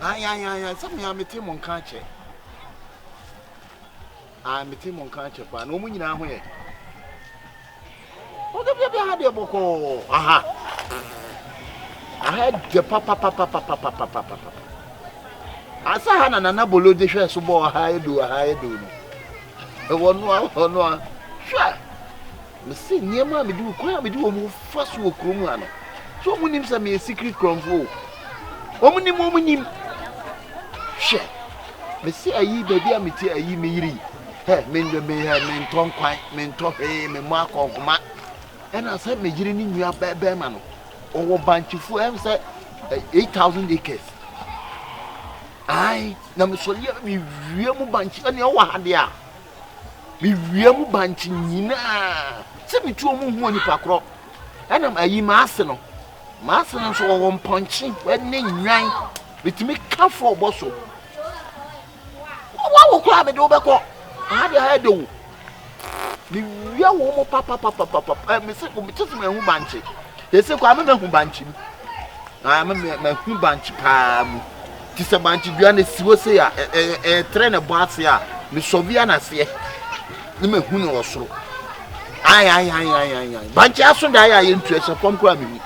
Ae, ae, ae, ae, sɛ me ara mete mo nka akyɛ. Ae, mete mo nka akyɛ paa, na wɔn nyinaa ho yɛ. Wɔde bia bia ha deɛ bɔkɔɔ, aha. Aha deɛ papapapapapapapapa. Asa ha na nana bolo de hwɛ so bɔɔ aha edu aha edu no. Wɔn no wɔn no hwɛ. Mese nneɛma a mede, kwan a mede wɔn fa so wɔ kurom ha no, so wɔn nim sɛ meyɛ secret korɔmfoɔ o? Wɔn nim, wɔn nim. Hwɛ, mese ayi baabi a mete ayi me yiri, hɛ, me, me, hɛ, mentɔ nkwan, mentɔ hwee, me mmɔ akɔnhoma. Ɛna sɛ me yere ne nua bɛrima no, ɔwɔ bankyefoɔ, ɛm sɛ eh, eight thousand acres. Ae, na mesɔre a mewie mu bankye, ɛnea ɔwɔ ha deɛ a, Miwia mu bankye nyina sɛ metu ɔmo hu onipa korɔ. Ɛna ayi m'ase no, m'ase no nso ɔwɔ mpɔnkye ne nnwan. Metumi ka fɔ ɔbɔ so. Wɔn awo koraa mede wobɛkɔ. Aha deɛ ayɛ dɛ o. Mewia wɔn mo papapapapapa. Ɛɛ mese mete sɛ mahu bankye. Yɛsɛ kɔ ama mahu bankye mu. Ama mahu bankye paa mu. te sɛ bankye dua na esi hɔ sei a, ɛtrɛ na ɛbɔ ase a, mesɔve a n'aseɛ na mahu no wɔ soro. Ae, ae, ae, ae, ae, ae. Bankye aso dae a yɛntu ɛhyɛ fam koraa mehu.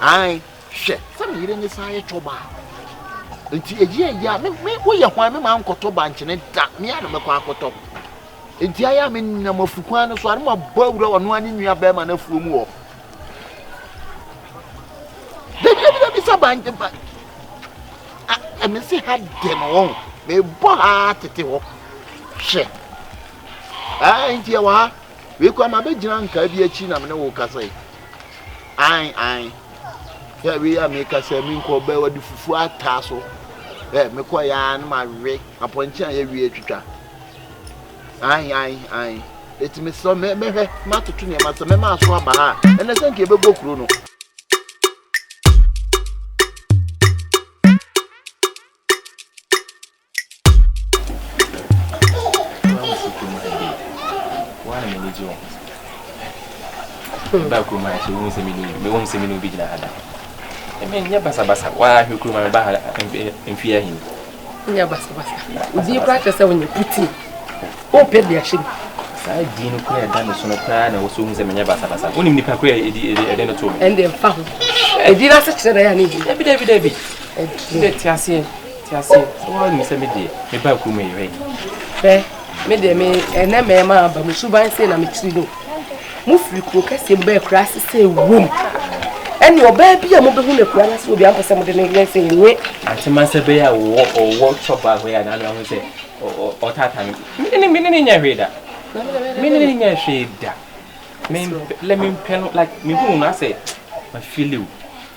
Ae, hwɛ, sɛ me yere ne saa yɛ tɔba a. Nti ɛyi ɛyi a, me, me, woyɛ hwan me maa nkɔtɔ bankye ne da, me a na mɛkɔ akɔtɔ. Nti ayɛ a menam afukwan no so a, na mabɔ awura ɔno a ne nua bɛrima no afuo mu hɔ. Dabi dabi sɛ bangye ba. Ɛmi si ha dɛ no wɔn. Mebɔ ha tete hɔ. Hwɛ. Ɛɛ nti ɛwɔ ha. Wei kɔ ama bɛgyina nkaa bi akyi na mene wo kasa yi. Ae ae. Yɛ wei a meka sɛ menkɔ bɛ wɔde fufuo ataa so. Ɛ mekɔ yɛ a na mawe apɔnkye a yɛwie atwitwa. Ae, ae, ae. Eti mesrɛ wo, mɛ, mɛhwɛ, matoto nneɛma, sɛ mɛma aso aba ha a, ɛnɛ sɛ nka yɛbɛbɔ kuro no. ba kurom ha sɛ wohu sɛ mene mewom sɛ mene obi gyina ha da ɛmɛ nyɛ basabasa waa hwɛ kurom ha meba ha mfeɛ ahini nyɛ basabasa odin koraa kyerɛ sɛ wonyɛ putee wopɛ de ahyɛ mu saa din no koraa ɛda me so no koraa na wɔsɛ wohu sɛ menyɛ basabasa wonim nipa koraa ɛdi ɛde no to me ɛnde mfa ho ɛdin no ase kyerɛ na yɛ ne bi dabi dabi dabi ɛdɛ te aseɛ te aseɛ sɛ woanim sɛ me deɛ meba kurom yɛhwɛ fɛ me deɛ me ɛnɛ mɛma aba mu suban sei na mekyiri no mo firi kuro kɛseɛ mu bɛyɛ kura ase sɛ ɛwom ɛne ɔbaa bi a mobɛhu no akura no ase obi ampɛ sɛ mode no yɛ sɛ ɛnwe atema sɛ bɛyɛ a wɔwɔ ɔwɔ tɔ baa hɔ yɛ anaano ahu sɛ ɔtata no mene ne nyɛ hwee da mene ne nyɛ hwee da lɛ mempɛ no like mehunu no asɛ mafiliw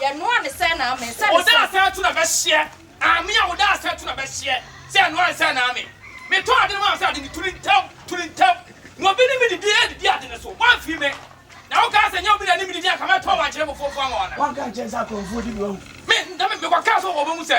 Yɛ noa ne sɛ na ame. Sɛ ne sɛ. Oda asɛ ato na bɛ hyeɛ. Ame a oda asɛ ato na bɛ hyeɛ. Sɛ ɛnoa ne sɛ na ame. Me tɔ ade no maa wo sɛ ade no turi ntɛm, turi ntɛm. Na obi ne me didi a didi ade no so. Woamfiri me. Na wo kaa sɛ nyɛ obi na ɛne me didi anka mɛtɔn wo ankyerɛ me fofo ama wo anaa. Woanka ankyerɛ me sɛ akorɔmfoɔ di bi wahu. Me, na me kɔ kaa sɛ wɔ bɛ mu sɛ.